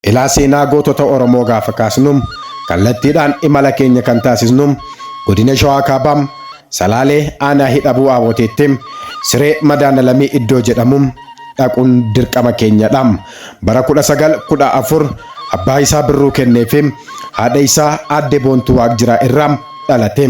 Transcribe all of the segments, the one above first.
Ilaa seenaa gootota Oromoo gaafa kaasnu kallattiidhaan imala keenya kan taasisnu Godina Shawaa Kaabaa, Salaalee Aanaa Hidhabuu Aaboteetti, Siree Madaanalamii iddoo jedhamu dhaquun dirqama keenya dha. Bara 1914 abbaa isaa Birruu Kennee fi haadha isaa Aadde Boontuu Waaqjiraa irraa dhalate.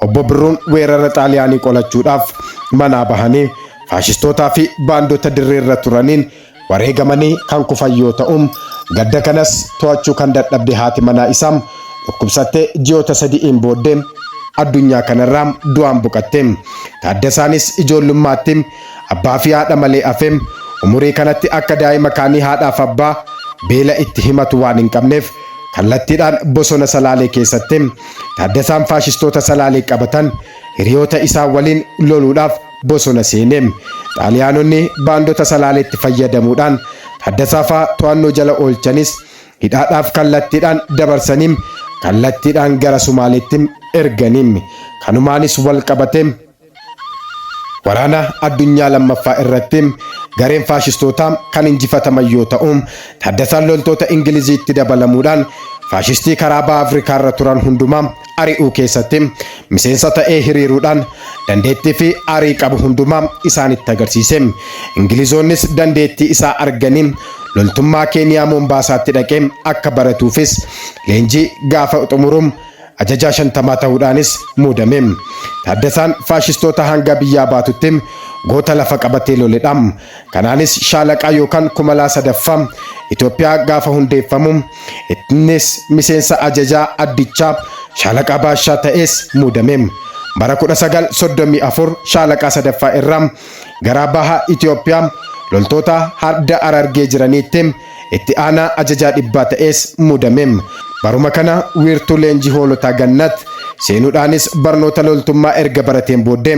Obbo Birruun weerara Xaaliyaanii qolachuudhaaf manaa bahanii faashistootaa fi baandota dirreerra turaniin Wareegamanii kan kufan yoo ta'u, gadda kanas to'achuu kan dadhabde haati manaa isaa dhukkubsattee ji'oota sadi'iin booddee addunyaa kanarraa du'aan boqatte. Taaddasaanis ijoollummaatti abbaafi haadha malee hafe. Umurii kanatti akka daa'ima kaanii haadhaaf abbaa beela itti himatu waan hin qabneef kallattiidhaan bosona Salaalee keessatti Taaddasaan faashistoota Salaalee qabatan hiriyoota isaa waliin loluudhaaf bosona seene. Xaaliyaanonni baandota Salaaleetti fayyadamuudhaan Taddasaa fa'a to'annoo jala oolchanis hidhaadhaaf kallattiidhaan dabarsanii kallattiidhaan gara Sumaaleetti ergani. Kanumaanis wal qabatee Waraana Addunyaa Lammaffaa irratti gareen faashistootaa kan injifataman yoo ta'u, Taddasaan loltoota Ingiliziitti dabalamuudhaan faashistii karaa Baha Afrikaa irra turan hundumaa ari'uu keessatti miseensa ta'ee hiriiruudhaan dandeettii fi arii qabu hundumaa isaanitti agarsiise. Ingilizoonnis dandeettii isaa arganii loltummaa Keeniyaa Moombaasaatti dhaqee akka baratuufis leenjii gaafa xumuru ajajaa shantamaa ta'uudhaanis muudame. Taaddasaan faashistoota hanga biyyaa baatutti goota lafa qabatee loledha. Kanaanis shaalaqaa yookaan kumalaa sadaffaa Itoophiyaa gaafa hundeeffamu innis miseensa ajajaa addichaa shaalaqaa baashaa ta'ees muudame. Bara 1934 shaalaqaa sadaffaa irraa garaa baha Itoophiyaa loltoota hadda Harargee jiraniitti Itti aanaa ajajaa dhibbaa ta'ees muudame. Baruma kana wiirtuu leenjii hoolotaa Gannat seenuudhaanis barnoota loltummaa erga barateen booddee,